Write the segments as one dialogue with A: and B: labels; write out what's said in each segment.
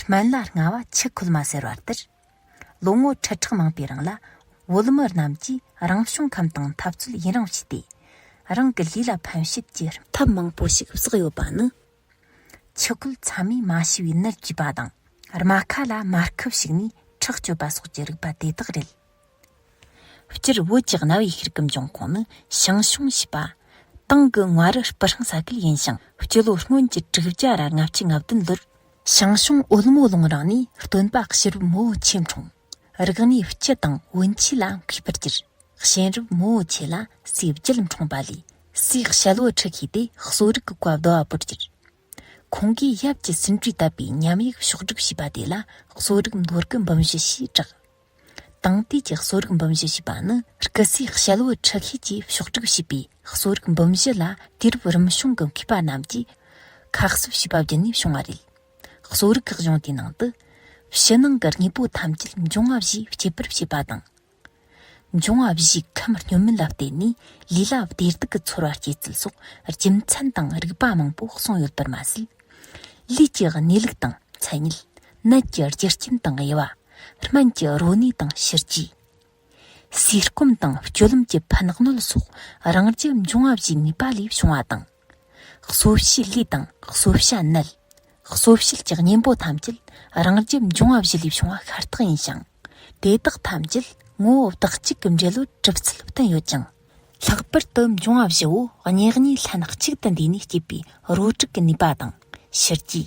A: སྨན་བླ་རྔ་བ་ཆུ་ཁོལ་མ་ཟེར་བ་ལྟར། ལོ་ངོ་ཁྲི་ཕྲག་མང་པོའི་རིང་ལ་བོད་མི་རྣམས་ཀྱིས་རང་བྱུང་ཁམས་དང་འཐབ་རྩོད་ཡུན་རིང་བྱས་ཏེ། རང་གི་ལུས་ལ་ཕན་ཞིབ་ཀྱི་ཐབས་མང་པོ་ཞིག་བསགས་ཡོད་པ་ནི། ཆུ་ཁོལ་ཚང་མས་མ་ཤི་བའི་ནད་བཅོས་པ་དང། རྨ་ཁ་ལ་མར་ཁུ་བྱུགས་ནས་ཁྲག་གཅོད་པ་སོགས་ཀྱི་རིགས་པ་དེ་དག་རེད། སྤྱིར་བོད་ཀྱི་གནའ་བོའི་ཤེལ་གྱི་འབྱུང་ཁུངས་ནི་ཞང་ཞུང་ཞེས་པ་ཏང་གི་ངྷ་རི་སྤུ་ཧྲེང་ས་ཁུལ་ཡིན་ཞིང་སྤྱི་ལོ་སྔོན་གྱི་དྲུག་བརྒྱ་ར་ལྔ་བཅུ་ང་བདུན་ལོར་ཞང་ཞུང་ཨོལ་མོ་ལུང་རང་ནས་སྟོན་པ་ཤེལ་རབས་མོ་བོ་ཆེ་འཁྲུངས། རིག་གནས་སྤྱི་དང་བོན་ཆོས་ལ་མཁས་པར་གྱུར། གཤེན་རབས་མོ་བོ་ཆེ་ལ་སྲས་བརྒྱད་འཁྲུངས་པ་ལས་སྲས་ཞལ་བོ་ཁྲི་ཤེས་ཏེ་གསོ་རིག་གི་བཀའ་བསྡུ་བ་པོར་གྱུར། ཁོང་གིས་ཡབ་ཀྱི་ཟིན་བྲིས་བཏབ་པའི་ཉམས་ཡིག་ཕྱོགས་བསྒྲིགས་བྱས་པ་དེ་ལ་གསོ་རིག་མདོ་རྒྱུད་འབུམ་བཞི་ཞེས་གྲགས། དང་དུས་ཀྱི་གསོ་རིག་འབུམ་བཞི་ཞེས་པ་ནི་སྐུ་ཚེའི་དཔྱད་བུ་ཁྲི་ཤེས་ཀྱིས་ཕྱོགས་བསྒྲིགས་བྱས་པའི་གསོ་རིག་འབུམ་བཞི་ལ་དུས་རབས་རིམ་བྱུང་གི་མཁས་པ་རྣམས་ཀྱིས་ཁ་གསབ་བྱས་པ་བརྒྱུད་ནས་བྱུང་བ་རེད། གསོ་རིག་གི་གཞུང་དེའི་ནང་དུ། ཕྱི་ནང་གི་དངོས་པོ་ཐམས་ཅད་འབྱུང་བ་བཞིས་སྐྱེད་པར་བྱེད་པ་དང། འབྱུང་བ་བཞིའི་ཁམས་སྙོམས་མིན་ལ་བརྟེན་ནས་ལུས་ལ་བདེ་སྡུག་གི་ཚོར་བ་སྐྱེད་ཚུལ་སོགས་རྒྱུ་མཚན་དང་རིགས་པ་མང་པོ་གསུངས་ཡོད་པར་མ་ཟད། ལུས་ཀྱི་གནས་ལུགས་དང་མཚན་ཉིད། ནད་ཀྱི་རྒྱུ་རྐྱེན་དང་དབྱེ་བ། སྨན་གྱི་རོ་ནུས་དང་ཕྱིར་རྒྱུ། ཟས་སྐོམ་དང་སྤྱོད་ལམ་གྱི་ཕན་གནོད་སོགས་རང་རྒྱལ་འབྱུང་བ་བཞིའི་ནུས་པ་ལས་བྱུང་བ་དང། གསོ་བྱེད་ལུས་དང་གསོ་བྱ་མནལ། གསོ་བྱེད་ཀྱི་གཉེན་པོ་ཐམས་ཅད་རང་རྒྱལ་འབྱུང་བ་བཞི་ལས་བྱུང་བ་ཤ་སྟག་ཡིན་ཞིང། དེ་དག་ཐམས་ཅད་ངོ་བོ་བདག་གཅིག་གི་འབྲེལ་ལོ་གྲུབ་ཚུལ་བསྟན་ཡོད་ཅིང། ལྷག་པར་དུ་འབྱུང་བ་བཞི་བོ་གཉིས་གཉིས་ལྷན་གཅིག་ཏུ་འདུས་ནས་སྐྱེས་པའི་རོ་དྲུག་གི་ནུས་པ་དང་ཕྱིར་རྒྱུ།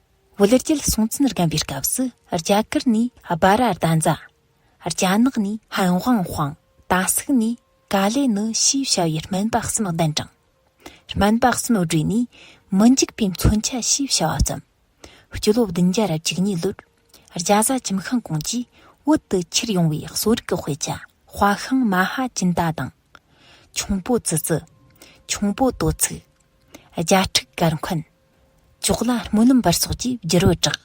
A: བོད་རྒྱལ་སྲོང་བཙན་སྒམ་པའི་སྐབས་སུ་རྒྱ་གར་ནས་སྦ་ར་རྡ་འཛ། རྒྱ་ནག་ནས་ཧན་ཝང་ཧྥང། ད་སུག་ནས་ཀ་ལེ་ནི་ཞེས་བྱ་བའི་སྨན་པ་གསུམ་གདན་དྲངས། སྨན་པ་གསུམ་སྦྲེལ་ནས་མི་འཇིགས་པའི་མཚོན་ཆ་ཞེས་བྱ་བ་བརྩམས། སྤྱི་ལོ་བདུན་བརྒྱ་རབ་བཅུ་གཉིས་ལོར་རྒྱ་བཟའ་ཁྱིམ་ཤང་ཀོང་ཀྱིས་བོད་དུ་ཁྱེར་ཡོང་བའི་གསོ་རིག་གི་དཔེ་ཆ་དཔའ་ཤིང་མ་ཧ་ཅིན་ཏཱ་དང། ཁྱུང་པོ་ཙི་ཙི། ཁྱུང་པོ་ཏོ་ཚིགས། རྒྱ་ཕྲུག་གར་འཁོན། ཅོག་ལ་སྨོན་ལམ་པར་སོགས་ཀྱིས་བསྒྱུར་བུ་དྲག།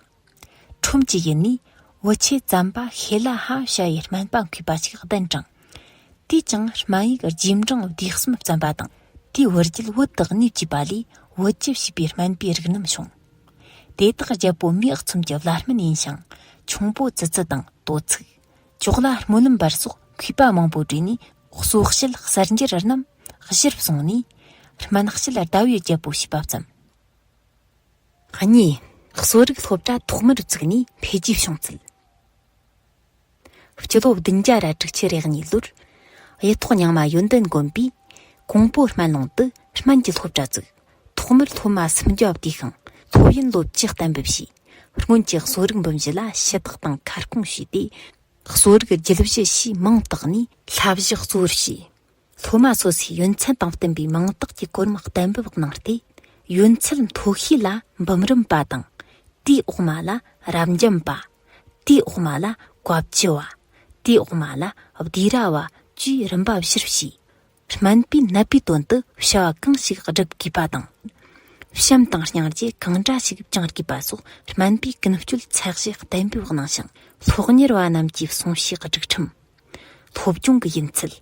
A: ཁྲོམ་གྱི་ཡུལ་ནས་བུ་ཆེ་བཙན་པ་ཤེ་ལ་ཧ་ཤ་ཡའི་སྨན་པ་འཁུས་པ་ཞིག་གདན་དྲངས། དུས་ཀྱང་སྨན་ཡིག་རྗེས་འབྲང་བསྡུས་གསུམ་བརྩམས་པ་དང་དེའི་བུ་རྒྱུད་བུ་དག་གནས་བཅུ་པ་ལས་བུ་བཅུ་བྱས་པའི་སྨན་པའི་རིགས་རྣམས་བྱུང། དེ་དག་རྒྱལ་པོ་མེས་ཚོམ་གྱི་བླ་སྨན་ཡིན་ཞིང་ཁྱུང་པོ་ཙི་ཙི་དང་དོ་ཚིགས། ཅོག་ལ་སྨོན་ལམ་བར་སོགས་གུས་པ་མང་པོ་བྲིས་ནས་གསོལ་བཤད་གསར་འགྱུར་རྣམས་གཞིར་བཟུང་ནས། སྨན་དཔྱད་ཟླ་བའི་རྒྱལ་པོ་ཞེས་པ་བརྩམས། གཉིས། གསོ་རིག་སློབ་གྲྭ་ཐོག་མར་བཙུགས་ནས་འཕེལ་རྒྱས་བྱུང་ཚུལ། སྤྱི་ལོ་བདུན་བརྒྱ་ར་དྲུག་ཁྱི་རེ་གཉིས་ལོར་གཡུ་ཐོག་ཉང་མ་ཡོན་ཏན་དགོན་པའི་ཀོང་པོ་སྨན་ལུང་དུ་སྨན་གྱི་སློབ་གྲྭ་བཙུགས། ཐོག་མར་མཐོ་དམའ་སུམ་བརྒྱ་བསྡུས་ཤིང་ལྷོད་གཡེང་ལོ་བརྒྱད་གཏན་འབེབས་བྱས། སྔོན་གྱི་གསོ་རིག་འབུམ་བཞི་ལ་ཞུ་དག་དང་ཁ་སྐོང་བྱས་ཏེ། གསོ་རིག་རྒྱུད་བཞི་ཞེས་མིང་བཏགས་ནས་ལྷ་བཞི་གཙོ་བོར་བྱས། ལྷོ་དམའ་སོ་སོའི་ཡོན་ཚད་དང་བསྟུན་པའི་མིང་བཏགས་ཀྱི་སྐོར་མ་གཏན་འབེབས་གནང་སྟེ། ཡོན་ཚད་མཐོ་ཤོས་ལ་འབུམ་རམས་པ་དང། དེའི་འོག་མ་ལ་རབ་འབྱམས་པ། དེའི་འོག་མ་ལ་བཀའ་བརྒྱུད་བ། དེའི་འོག་མ་ལ་བསྡུས་ར་བ་བཅས་རིམ་པ་བཞིར་བྱས། སྨན་པའི་ནད་པའི་དོན་དུ་བྱ་བ་གང་ཞིག་བསྒྲུབ་དགོས་པ་དང། བྱམས་དང་སྙིང་རྗེ་གང་འདྲ་ཞིག་བཅང་དགོས་པ་སོགས་སྨན་པའི་ཀུན་སྤྱོད་ཚད་གཞི་བརྟན་པོའི་གནང་ཞིང། སློབ་གཉེར་བ་རྣམས་ཀྱི་གསུང་བཤད་སྒྲིག་ཁྲིམས། སློབ་སྦྱོང་གི་ཡུན་ཚད།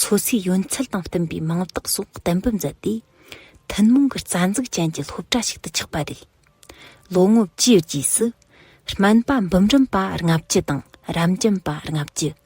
A: སོ་སོའི་ཡུན་ཚད་དང་བསྟུན་པའི་མིང་རྟགས་སོགས་བརྟན་པོ་མཛད་དེ། ཐུན་མོང་གི་རྩ་འཛུགས་ཅན་གྱི་སློབ་གྲྭ་ཞིག་ཏུ་ཆགས་པ་རེད། ལོ་ངོ་བཅུའི་རྗེས་སུ། སྨན་པ་འབུམ་རམས་པ་ལྔ་བཅུ་དང་རམས་རྒྱུན་པ་ལྔ་བཅུ།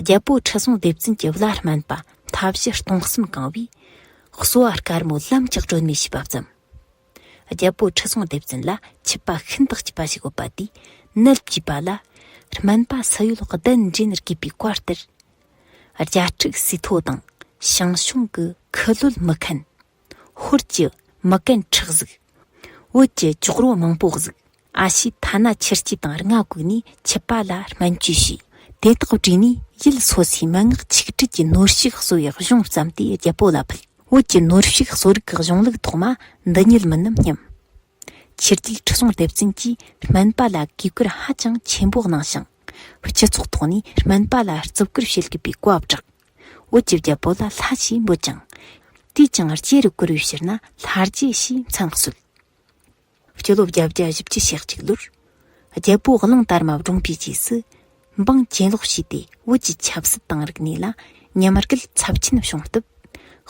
A: རྒྱལ་པོ་ཁྲི་སྲོང་ལྡེ་བཙན་གྱི་བླ་སྨན་པ་མཐའ་བཞི་སྟོང་གསུམ་གང་བས་གསོལ་བ་དཀར་མོ་ལམ་གྱི་སྒྲོན་མེ་ཞེས་པ་བརྩམས། རྒྱལ་པོ་ཁྲི་སྲོང་ལྡེ་བཙན་ལ་ཆུད་པ་ཤིན་ཏུ་སྐྱིད་པ་ཞིག་ཡོད་པ་དེས་ནད་བགྱིས་པ་ལ། སྨན་པ་སུ་ཡོད་གདན་འདྲེན་ནས་དགོས་པའི་བཀའ་ལྟར། བརྒྱ་ཕྲུག་སི་ཐོ་དང་ཞང་ཞུང་གི་ཁུ་ལུད་མི་ཁན། ཧོར་གྱི་མི་རྐན་ཁྲག་གཟུགས། བོད་ཀྱི་ཅོག་རོ་མང་པོ་གཟུགས། ཨ་ཕྱིས་ཐ་ན་ཆུར་སྐྱི་དང་རྔ་བཀུག་ནས་འཆི་བ་ལ་སྨན་བཅོས་བྱས། དེ་དག་བྲིས་ནས་ཡུལ་སོ་སོའི་མན་ངག་ཆིག་སྒྲིལ་གྱི་ནོར་ཕྱུགས་གསོ་བའི་གཞུང་བརྩམས་ཏེ་རྒྱལ་པོ་ལ་ཕུལ། བོད་ཀྱི་ནོར་ཕྱུགས་གསོ་རིག་གི་གཞུང་ལུགས་ཐོག་མ་འདི་ཉིད་མིན་ནམ་སྙམ། ཕྱི་རྒྱལ་ཁྲི་སྲོང་ལྡེ་བཙན་གྱིས་སྨན་པ་ལ་དགོས་མཁོར་ཧ་ཅང་ཆེན་པོ་གནང་ཞིང། སྤྱི་ཚོགས་ཐོག་ནས་སྨན་པ་ལ་བརྩི་བཀུར་བྱེད་དགོས་པའི་བཀའ་བསྒྲགས། བོད་ཀྱི་རྒྱལ་པོ་ལ་ལྷ་ཞེས་འབོད་ཅིང། དུས་ཀྱང་རྗེ་རུ་བཀུར་བའི་ཕྱིར་ན་ལྷ་རྗེ་ཞེས་མཚན་གསོལ། སྤྱི་ལོ་བརྒྱད་བརྒྱ་བཞི་བཅུ་ཞག་གཅིག་ལོར། རྒྱལ་པོ་གླིང་དར་མ་བགྲུངས་པའི་རྗེས་སུ། འབངས་གྱེན་ལོག་བྱས་ཏེ་བོད་ཀྱི་ཆབ་སྲིད་དང་རིག་གནས་ལ་ཉམས་རྒུད་ཚབས་ཆེན་བྱུང་སྟབས།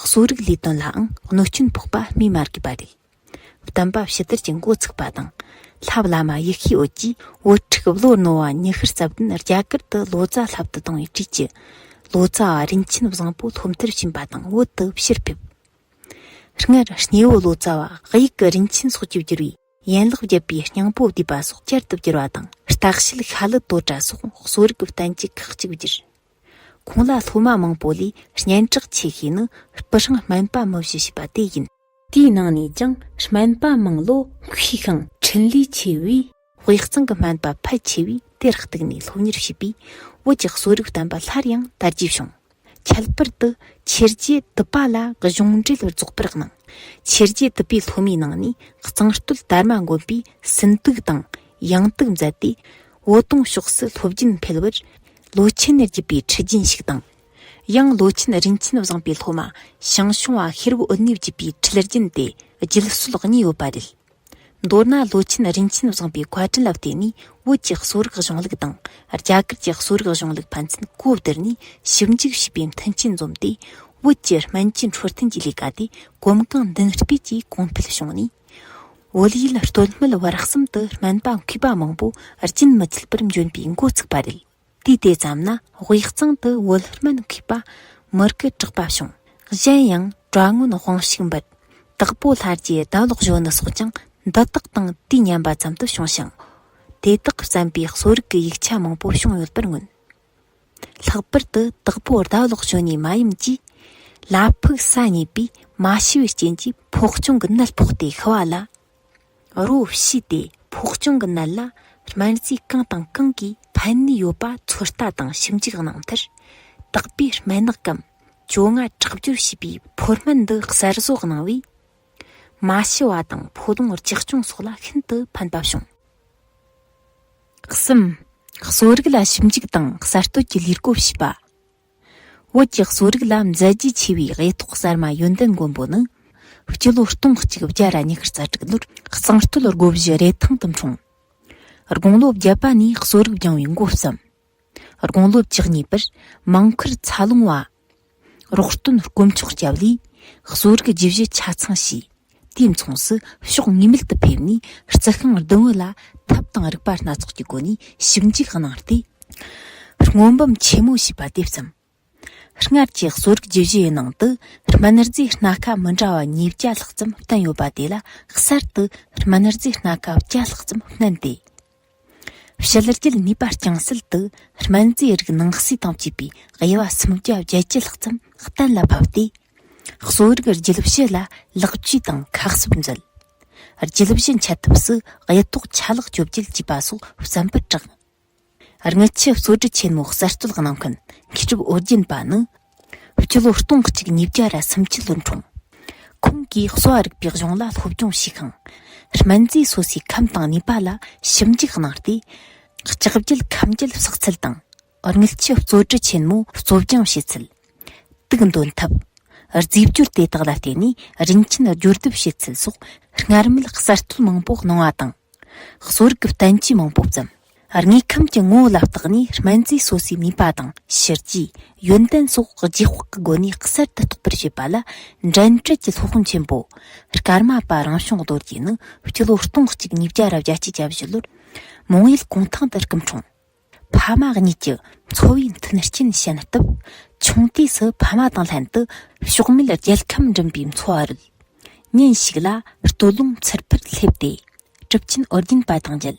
A: གསོ་རིག་ལས་དོན་ལའང་གནོད་སྐྱོན་ཕོག་པ་སྨོས་མ་དགོས་པ་རེད། བསྟན་པ་ཕྱི་དར་གྱི་འགོ་ཚུགས་པ་དང། ལྷ་བླ་མ་ཡེ་ཤེས་འོད་ཀྱིས་བུ་ཕྲུག་བློ་རྣོ་བ་ཉི་ཤུར་རྩ་བདུན་རྒྱ་གར་དུ་ལོ་ཙཱ་ལྷ་བསྟི་བཏང་བའི་དུས་ཀྱི་ལོ་ཙཱ་བ་རིན་ཆེན་བཟང་པོ་སློབ་མཐར་ཕྱིན་པ་དང་བོད་དུ་ཕྱིར་ཕེབས། སྔར་སྣེ་བོ་ལོ་ཙཱ་བ་དབྱིག་གི་རིན་ཆེན་སོགས་ཀྱིས་བསྒྱུར་བའི་ཡན་ལག་བརྒྱད་པའི་སྙིང་པོ་བསྡུས་པ་སོགས་བསྐྱར་དུ་བསྒྱུར་བ་དང་རྟགས་བཤད་ཤྭ་ལི་ཏོ་ཏྲ་སོགས་གསོ་རིག་བསྟན་བཅོས་ཁག་གཅིག་བསྒྱུར། ཁོང་ལ་སློབ་མ་མང་པོ་ལས་སྙན་གྲགས་ཆེ་ཤོས་ནི་སྤུ་ཧྲེང་སྨན་པ་མི་བཞི་ཞེས་པ་དེ་ཡིན། དེའི་ནང་ནས་ཀྱང་སྨན་པ་མང་ལོ་མཁས་ཤིང་འཕྲིན་ལས་ཆེ་བས། དབུས་གཙང་གི་སྨན་པ་ཕལ་ཆེ་བས་དེར་གཏུགས་ནས་སློབ་གཉེར་བྱས་པས་བོད་ཀྱི་གསོ་རིག་བསྟན་པ་སླར་ཡང་དར་རྒྱས་བྱུང། ཁྱད་པར་དུ་ཆེར་རྒྱས་དུ་པ་ལ་གཞུང་འགྲེལ་རྫོགས་པར་གནང། ཆེར་རྒྱས་དུ་པའི་སློབ་མའི་ནང་ནས་གཙང་སྟོད་དར་མ་མགོན་པས་སུན་དུག་དང་ཡང་དུག་མཛད་དེ། བོ་དོང་ཕྱོགས་སུ་སློབ་རྒྱུན་འཕེལ་བར། ལོ་ཆེན་ནས་བརྒྱུད་པའི་ཁྲི་རྒྱུན་ཞིག་དང། ཡང་ལོ་ཆེན་རིན་ཆེན་བཟང་པའི་སློབ་མ་ཞང་ཞུང་བ་ཤེར་བུ་འུ་གནས་བརྒྱུད་པའི་འཁྲིད་རྒྱུན་དེ་རྒྱུད་སྲོལ་གཉིས་ཡོད་པ་རེད། མདོར་ན་ལོ་ཆེན་རིན་ཆེན་བཟང་པའི་བཀའ་དྲིན་ལ་བརྟེན་ནས་བོད་ཀྱི་གསོ་རིག་གཞུང་ལུགས་དང་རྒྱ་གར་གྱི་གསོ་རིག་གཞུང་ལུགས་ཕན་ཚུན་གོ་བསྡུར་ནས་ཞིབ་འཇུག་བྱས་པའི་མཐུན་རྐྱེན་འཛོམས་ཏེ་བོད་ཀྱི་སྨན་བཅོས་འཕྲོད་བསྟེན་གྱི་ལས་ཀ་དེ་གོམ་གང་མདུན་སྤོས་ཀྱིས་གོང་འཕེལ་བྱུང་ནས་བོད་ཡུལ་སྟོད་སྨད་བར་གསུམ་དུ་སྨན་པ་མཁས་པ་མང་པོ་རྒྱུན་མི་ཆད་པར་འབྱོན་པའི་འགོ་ཚུགས་པ་རེད། དུས་དེ་ཙམ་ན་དབུས་གཙང་དུ་བོད་སྨན་མཁས་པ་མུར་གི་གྲགས་པ་བྱུང། གཞན་ཡང་གྲྭ་སྔོན་དབང་ཕྱུག་འབུལ་དྭགས་པོ་ལྷ་རྗེའི་ཟླ་ལོག་གཞོན་ནུ་སོགས་ཀྱང་འདི་དག་དང་དུས་མཉམ་པ་ཙམ་དུ་བྱུང་ཞིང། དེ་དག་བརྩམས་པའི་གསོ་རིག་གི་ཡིག་ཆ་མང་པོ་བྱུང་ཡོད་པར་མངོན། ལྷག་པར་དུ་དྭགས་པོ་ཟླ་ལོག་གཞོན་ནུའི་མ་ཡུམ་གྱིས། བླ་ཕུག་ས་གཉིས་པའི་མ་ཤི་བའི་རྐྱེན་གྱིས་ཕོག་ཅོང་གི་ནད་ཕོག་སྟེ་ཤི་བ་ལ། རོ་བྱས་ཏེ་ཕོག་གྱོང་གི་ནད་ལ་སྨན་རྫས་གང་དང་གང་གིས་ཕན་ནུས་ཡོད་པ་ཚོད་ལྟ་དང་ཞིབ་འཇུག་གནང་མཐར། དག་པའི་སྨན་ནག་གམ་བཅོ་ལྔ་ཁྲག་སྦྱོར་བྱས་པའི་ཕོར་སྨན་འདི་གསར་བཟོ་གནང་བས། མ་ཤི་བ་དང་ཕོ་གདོང་རྒྱག་གྱོང་སོགས་ལ་ཤིན་ཏུ་ཕན་པ་བྱུང། གསུམ། གསོ་རིག་ལ་ཞིབ་འཇུག་དང་གསར་གཏོད་ཀྱི་ལས་བགོ་བྱས་པ། བོད་ཀྱི་གསོ་རིག་ལ་མཛད་རྒྱུས་ཆེ་བའི་དབྱེ་ཐོག་གསར་མ་ཡོན་ཏན་མགོན་པོ་ནི། སྤྱི་ལོ་སྟོང་གཅིག་བརྒྱ་ར་ཉི་ཤུ་རྩ་དྲུག་ལོར་གཙང་སྟོད་སྒོ་བཞི་རེ་ཐང་དུ་འཁྲུངས། དགུང་ལོ་བརྒྱད་པ་ནས་གསོ་རིག་སྦྱངས་བའི་མགོ་བརྩམས། དགུང་ལོ་བཅུ་གཉིས་པར་མང་ཁུར་ཚ་ལུང་བ། རོགས་སྟོན་དཀོན་མཆོག་སྐྱབས་ལས་གསོ་རིག་བརྒྱུད་བཞི་ཆ་ཚང་བྱས། དུས་མཚུངས་སུ་ཕྱོགས་ངེས་མེད་དུ་ཕེབས་ནས་རྩི་ཤིང་བདུན་བུ་ལ་ཐབ་དང་རིག་པ་སྣ་ཚོགས་ཀྱི་སྒོ་ནས་ཞིབ་འཇུག་གནང་སྟེ། སྔོན་འབུམ་ཆེན་མོ་ཞེས་པ་དེ་བརྩམས། སྔར་གྱི་གསོ་རིག་རྒྱུད་བཞིའི་ནང་དུ་སྨན་རྫས་སྣ་ཁ་མི་འདྲ་བ་ཉིས་བརྒྱ་ལྷག་ཙམ་བསྟན་ཡོད་པ་དེ་ལ་གསར་དུ་སྨན་རྫས་སྣ་ཁ་བརྒྱ་ལྷག་ཙམ་བསྣན་ཏེ། ཕྱི་རྒྱལ་ནུས་པ་རྐྱང་སེལ་དུ་སྨན་རྫས་རིགས་ནང་གསེས་དང་བཅས་པའི་དབྱེ་བ་སུམ་བརྒྱ་བརྒྱད་ཅུ་ལྷག་ཙམ་གཏན་ལ་ཕབ་སྟེ། གསོ་རིག་རྒྱུད་བཞི་ལ་ལེགས་བཅོས་དང་ཁག་གསབ་མཛད། རྒྱུད་བཞི་འཆད་ཐབས་སུ་དབྱེ་ཐོག་ཆ་ལག་བཅོ་བརྒྱད་ཅེས་པ་སོགས་བརྩམས་པར་གྲགས། དངུལ་ཆུ་གཙོ་གྲས་ཆེན་མོ་གསར་གཏོད་གནང་མཁན་མཁས་གྲུབ་ཨོ་རྒྱན་པ་ནི། སྤྱི་ལོ་སྟོང་གཅིག་ཉིས་བརྒྱ་ར་སུམ་ཅུ་ལོར་འཁྲུངས། ཁོང་གིས་གསོ་བ་རིག་པའི་གཞུང་ལ་སློབ་སྦྱོང་ཞུས་ཤིང། སྨན་རྫས་སོ་སོའི་ཁམས་དང་ནུས་པ་ལ་ཞིབ་འཇུག་གནང་སྟེ། ལྕགས་རྒྱུད་ཁམས་རྒྱུད་བསགས་ཚུལ་དང། དངུལ་ཆུ་གཙོ་གྲི་ཆེན་མོ་གཙོ་སྦྱངས་བྱེད་ཚུལ། དུག་འདོན་ཐབས། རྫས་སྦྱོར་དེ་དག་ལ་བརྟེན་ནས་རིན་ཆེན་སྦྱོར་སྡེབ་བྱེད་ཚུལ་སོགས་སྔར་མེད་གསར་གཏོད་མང་པོ་གནང་བ་དང། གསོ་རིག་བསྟན་བཅོས་མང་པོ་བརྩམས། དངོས་ཁམས་ཀྱི་ངོ་བོ་ལ་བརྟགས་ནས་སྨན་རྫས་སོ་སོའི་ནུས་པ་དང་ཕྱི་རྒྱུའི་ཡོན་ཏན་སོགས་རྗེས་དཔག་གི་སྒོ་ནས་གསར་དུ་རྟོགས་པར་བྱེད་པ་ལ་འགྲན་བསྐྲད་ཀྱི་སློབ་དཔོན་ཆེན་པོ་ཀར་མ་པ་རང་བྱུང་རྡོ་རྗེ་ནི་སྤྱི་ལོ་སྟོང་གཅིག་ཉིས་བརྒྱ་རབ་བརྒྱ་སྤྱི་ཀྱ་བཞི་ལོར་མོང་ཡུལ་གུང་ཐང་དུ་སྐུ་འཁྲུངས། ཕ་མ་གཉིས་ཀྱི་འཚོ་བའི་མཐུན་རྐྱེན་བྱིན་སྟབས་ཆུང་དུས་སུ་ཕ་མ་དང་ལྷན་དུ་ཕྱོགས་མེད་རྒྱལ་ཁམས་འགྲིམ་པའི་འཚོ་བ་རོལ། ཉིན་ཞིག་ལ་སྟོད་ལུང་ཚེར་ཕུར་སླེབས་ཏེ་གྲུབ་ཆེན་ཨོ་རྒྱན་པ་དང་མཇལ།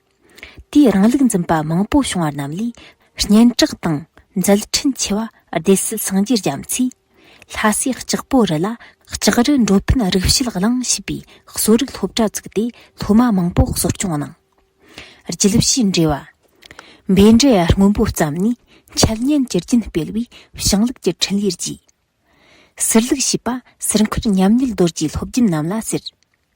A: དེས་རང་ལུགས་འཛིན་པ་མང་པོ་བྱུང་བ་རྣམས་ལས་སྙན་གྲགས་དང་མཛད་འཕྲིན་ཆེ་བ་སྡེ་སྲིད་སངས་རྒྱས་རྒྱ་མཚོས་ལྷ་སའི་ལྕགས་པོ་རི་ལ་ལྕགས་རི་འགྲོ་ཕན་རིག་བྱེད་བླང་ཞེས་པའི་གསོ་རིག་སློབ་གྲྭ་བཙུགས་ཏེ་སློབ་མ་མང་པོ་གསོ་སྐྱོང་གནང། རྒྱུད་བཞིའི་འགྲེལ་བ། འབའི་འབྲས་སྔོན་པོ་བརྩམས་ནས་འཆད་ཉན་གྱི་རྒྱུན་སྤེལ་བའི་ཞིང་ལུགས་ཀྱི་འཕྲིན་ལས་རྒྱས། ཟུར་ལུགས་ཞེས་པ་ཟུར་མཁར་ཉམས་ཉིད་རྡོ་རྗེའི་སློབ་རྒྱུན་རྣམས་ལ་ཟེར།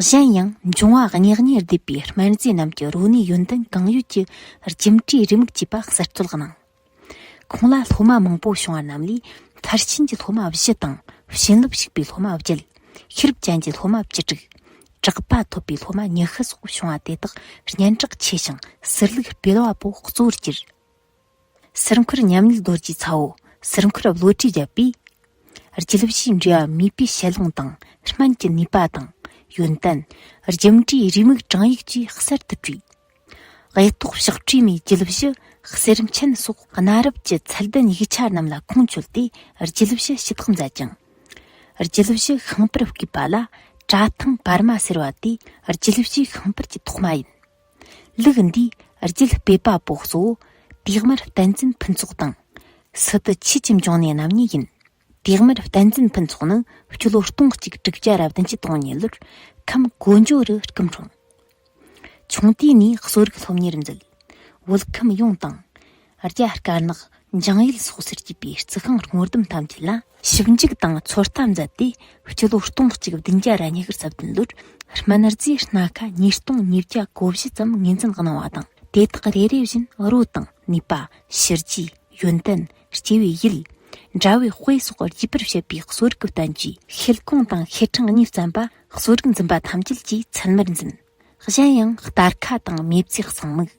A: གཞན་ཡང་འབྱུང་བ་ཉག་ཉེར་བསྡུས་པའི་སྨན་རྫས་རྣམས་ཀྱི་རོ་ནུས་ཡོན་ཏན་གང་ཡོད་ཀྱི་རྒྱུ་འབྲས་རེ་མུག་བཅས་པ་གསར་གཏོད་གནང། ཁོང་ལ་སློབ་མ་མང་པོ་བྱུང་བ་རྣམས་ལས་མཐར་ཕྱིན་གྱི་སློབ་མ་བཞི་དང་བྱིན་རླབས་ཞུགས་པའི་སློབ་མ་བརྒྱད། ཤེས་རབ་ཅན་གྱི་སློབ་མ་བཅུ་དྲུག། གྲགས་པ་ཐོབ་པའི་སློབ་མ་ཉི་ཤུ་སོགས་བྱུང་བ་དེ་དག་སྙན་གྲགས་ཆེ་ཞིང་གསེར་ལུགས་དཔལ་བ་པོ་གཙོ་བོར་གྱུར། གསེར་འཁོར་ཉམས་ལེན་རྡོ་རྗེའི་ཚའོ། གསེར་འཁོར་བློ་གྲོས་རྒྱལ་པོས། རྒྱལ་བཞིའི་འགྲོ་བ་མིད་པའི་ཞལ་ལུང་དང་སྨན་གྱི་ནུས་པ་དང་ཡོན་ཏན། རྒྱུ་འབྲས་རེའུ་མིག་བགྲང་ཡིག་བཅས་གསར་དུ་བྲིས། དབལ་ཏོག་བཤགས་འཕྲོས་མའི་རྒྱལ་བཞི་གསེར་མཆན་སོགས་གནའ་རབས་ཀྱི་ཚད་ལྡན་ཡིག་ཆ་རྣམས་ལ་ཁུངས་བཅོལ་ཏེ་རྒྱལ་བཞི་ཞི་བདག་མཛད་ཅིང། རྒྱལ་བཞི་ཤིང་པར་བརྐོས་པ་ལ་བཀྲ་ཐང་བར་མ་ཟེར་བ་དེ་རྒྱལ་བཞི་ཤིང་པར་གྱི་ཐོག་མ་ཡིན། ལུགས་འདིས་རྒྱུད་སྤེལ་པ་པོ་གཙོ་བོ་བེག་མར་བསྟན་འཛིན་ཕུན་ཚོགས་དང། སི་ཏུ་ཆོས་ཀྱི་འབྱུང་གནས་རྣམ་གཉིས་ཡིན། བེག་མར་བསྟན་འཛིན་ཕུན་ཚོགས་ནི་སྤྱི་ལོ་སྟོང་གཅིག་དྲུག་བརྒྱ་རབ་བདུན་གྱི་སྟོང་ཉིན་ལོར་ཁམས་གོ་འཇོ་རུ་སྐུ་འཁྲུངས། ཆུང་དུས་ནས་གསོ་རིག་སློབ་གཉེར་མཛད། བོད་ཁམས་ཡོངས་དང། རྒྱ་དཀར་ནག་འཇང་ཡུལ་སོགས་སུ་སྐྱེས་པའི་རྩི་ཤིང་སྔོ་ལྡུམ་ཐམས་ཅད་ལ་ཞིབ་འཇུག་དང་ཚོད་ལྟ་མཛད་དེ་སྤྱི་ལོ་སྟོང་གཅིག་བདུན་བརྒྱ་ར་ཉི་ཤུར་རྩ་བདུན་ལོར་སྨན་རྫས་སྣ་ཁ་ཉིས་སྟོང་ཉིས་བརྒྱ་གོ་བཞི་ཙམ་ངོས་འཛིན་གནང་བ་དང་དེ་དག་རེ་རེ་བཞིན་རོ་དང་ནུས་པ་ཕྱི་རྒྱུད་ཡོན་ཏན་སྐྱེ་བའི་ཡུལ་འདྲ་བའི་དཔེ་སོགས་རྒྱས་པར་བཤད་པའི་གསོ་རིག་བསྟན་བཅོས་ཤེལ་གོང་དང་ཤེལ་ཕྲེང་གཉིས་བརྩམས་པ་གསོ་རིག་འཛིན་པ་ཐམས་ཅད་ཀྱིས་ཚད་མར་འཛིན། གཞན་ཡང་སྟར་ཁ་དང་མེ་བཙའི་གསང་དམིགས།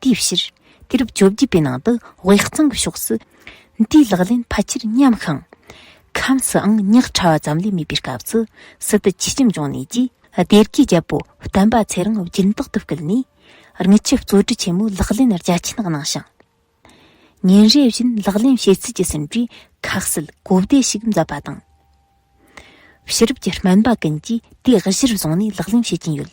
A: དེའི་ཕྱིར་དུས་རབས་བཅོ་བརྒྱད་པའི་ནང་དུ་དབྱིག་གཙང་གི་ཕྱོགས་སུ་དེའི་ལག་ལེན་ཕལ་ཆེར་ཉམས་ཤིང། ཁམས་སུའང་རྙོག་ཕྲ་བ་ཙམ་ལས་མེད་པའི་སྐབས་སུ་སི་ཏུ་ཆོས་ཁྱིམ་འབྱུང་གནས་ཀྱིས་སྡེ་དགེའི་རྒྱལ་པོ་བསྟན་པ་ཚེ་རིང་སྦྱིན་བདག་ཏུ་བསྐུལ་ནས་རྔུལ་ཆུ་བཙོ་བཀྲུ་ཆེན་མོའི་ལག་ལེན་རྒྱ་ཆེན་གནང་ཞིང། ཉིན་རེ་བཞིན་ལག་ལེན་བྱེད་ཚུལ་གྱི་ཟིན་བྲིས་ཁ་གསལ་གོ་བདེ་ཞིག་མཛད་པ་དང། ཕྱི་རབས་ཀྱི་སྨན་པ་ཀུན་གྱིས་དེ་གཞིར་བཟུང་ནས་ལག་ལེན་བྱེད་ཀྱིན་ཡོད།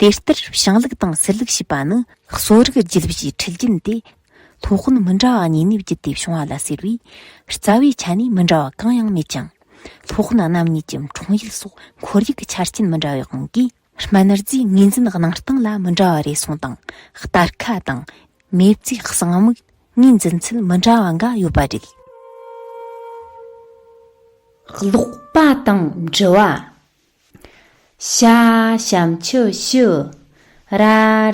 A: དེ་ལྟར་བྱང་ལུགས་དང་སྲིད་ལུགས་ཞེས་པ་ནི་གསོ་རིག་རྒྱུད་ལུགས་ཀྱི་འཁྲིད་རྒྱུན་ཏེ། ཐོག་དབུན་མི་འདྲ་བ་གཉིས་ནས་བརྒྱུད་དེ་བྱུང་བ་ལ་ཟེར་བས་རྩ་བའི་ཆ་ནས་མི་འདྲ་བ་གང་ཡང་མེད་ཀྱང། ཐོག་དབུན་རྣམ་གཉིས་ཀྱི་འཁྲུངས་ཡུལ་སོགས་ཁོར་ཡུག་གི་ཆ་རྐྱེན་མི་འདྲ་བའི་དབང་གིས་སྨན་རྫས་ངོས་འཛིན་གནང་སྟངས་ལ་མི་འདྲ་བ་རེ་ཟུང་དང་སྟར་ཁ་དང་མེ་བཙའི་གསང་དམིགས་ངོས་འཛིན་ཚུལ་མི་འདྲ་བ་འགའ་ཡོད་པ་རེད། ཀློག་པ་དང་འབྲི་བ། ཤ་ཞམ་ཆུ་ཞུ་ར་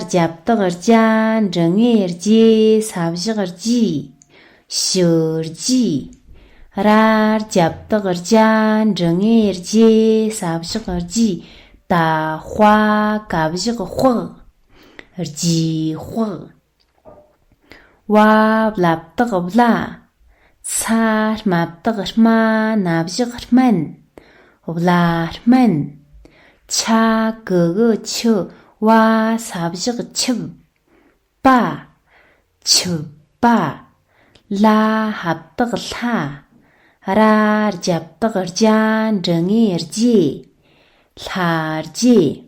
A: རྒྱབ་ལྟག་རྒྱ་འབྲི་ངེ་རྗེ་ས་བཞག་རྗེས་ཞུ་རྗེས་ར་རྒྱབ་ལྟག་རྒྱ་འབྲི་ངེ་རྗེ་ས་བཞག་རྗེས་ད་དཔའ་གབ་བཞག་དཔག་རྗེས་དཔག། བ་བླ་བཏགས་བླ། ཚ་རྨ་བཏགས་རྨ་སྣ་བཞག་སྨན། བླ་སྨན། ཆ་གི་གི་ཆུ་བ་ས་བཞག་ཆུབ། པ། ཆུབ་པ། ལ་ཧ་བཏགས་ལྷ། ར་རྒྱ་བཏགས་རྒྱ་འབྲི་ངེས་རྒྱས། ལྷ་རྒྱས།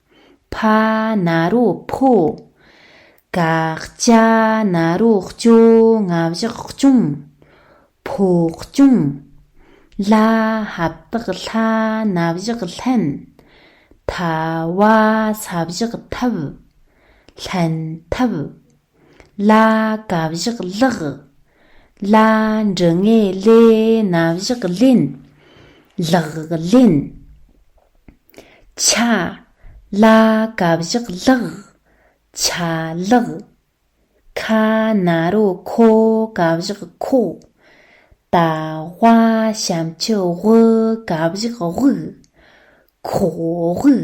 A: ཕ་ན་རོ་ཕོ། ཀ་ལྕ་ན་རོ་ལྕོ་ང་བཞག་སྐྱོང། ཕོ་སྐྱོང། ལ་ཧ་བཏགས་ལྷ་ན་བཞག་ལྷན། ཐ་བ་ས་བཞག་ཐབས། ལྷན་ཐབས། ལ་བཀའ་བཞག་བཀླག། ལ་འབྲུ་ལྔས་ལས་སྣ་བཞག་ལེན། ལག་ལེན། ཆ། ལ་བཀའ་བཞག་བཀླག། ཆ་ལག། ཁ། ན་རོ་ཁོ་བཀའ་བཞག་ཁོ། ད་བྷ་བྱམས་ཆུ་དབུ་བཀའ་བཞག་དབུག། ཁོག་དབུག།